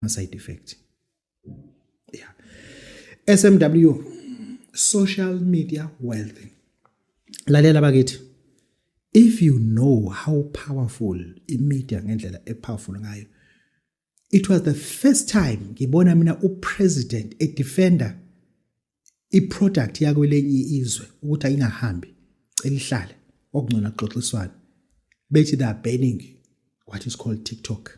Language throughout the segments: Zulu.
ama side effect yeah SMW social media wealth lalela bakithi if you know how powerful imedia ngendlela epowerful ngayo it was the first time ngibona mina upresident edefender iproduct yakwelenye izwe ukuthi ayingahambi celihlale okungcona kuxoxiswana bethi they are banning what is called TikTok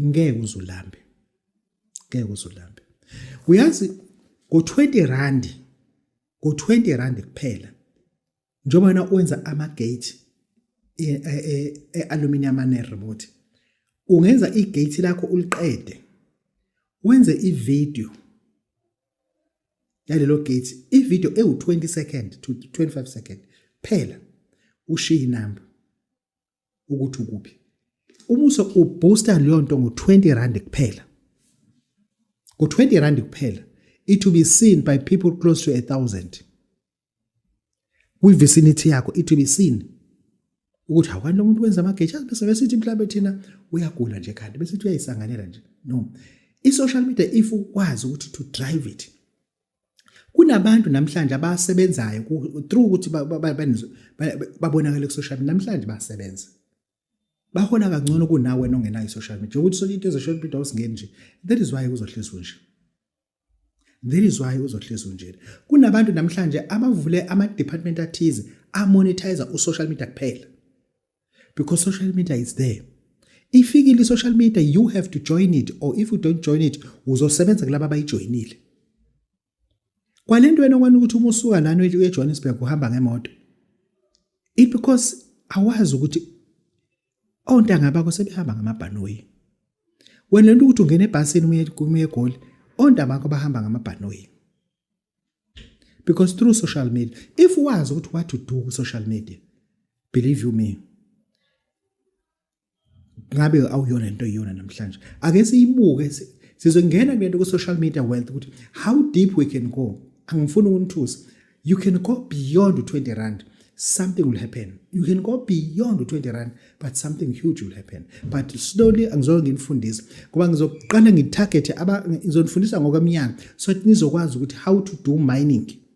ngeke uzulambe ngeke uzulambe uyazi ngo 20 rand ngo 20 rand kuphela njengoba wena wenza ama gate e, e, e, e aluminium ane remote ungenza i gate lakho uliqede wenze i video yalelo gate i video ewu 20 second to 25 second phela ushiye inamba ukuthi ukuphi umuso ubooster leyo nto ngo-20 rand kuphela ngo-20 rand kuphela it will be seen by people close to a thousand kwivicinity yakho it will be seen ukuthi awukani lo muntu wenza amageja bese besithi mhlawumbe thina uyagula nje kanti besithi uyayisanganela nje no i-social media if ukwazi ukuthi to drive it Kunabantu namhlanje abasebenzayo through ukuthi babonakale ku-social media namhlanje basebenza. Bahola kangcono kunawe wena ongenayo i-social media. Ukuthi sonke into ezoshola impilo awusingeni nje. That is why uzohlezi unje. That is why uzohlezi unje. Kunabantu namhlanje abavule ama-department athize amonetizer u-social media kuphela. because social media is there ifikile i-social media you have to join it or if you don't join it uzosebenza kulaba abayijoyinile kwale nto wena kwani ukuthi uma usuka lana uyejohannesburg uhamba ngemoto it because awazi ukuthi ontanga bakho sebehamba ngamabhanoyi wena lento ukuthi ungena ebhasini uma egoli ontanga bakho bahamba ngamabhanoyi because through social media if wazi ukuthi what to do ku social media believe you me ngabe awuyona into eyona namhlanje ake siyibuke sizongena kulento ku social media wealth ukuthi how deep we can go angifuni ukunithusa you can go beyond 20 rand something will happen you can go beyond 20 rand but something huge will happen but slowly angizoke nginifundise ngoba ngizoqala ngitarget aba ngizonifundisa ngokwemnyaka so nizokwazi ukuthi how to do mining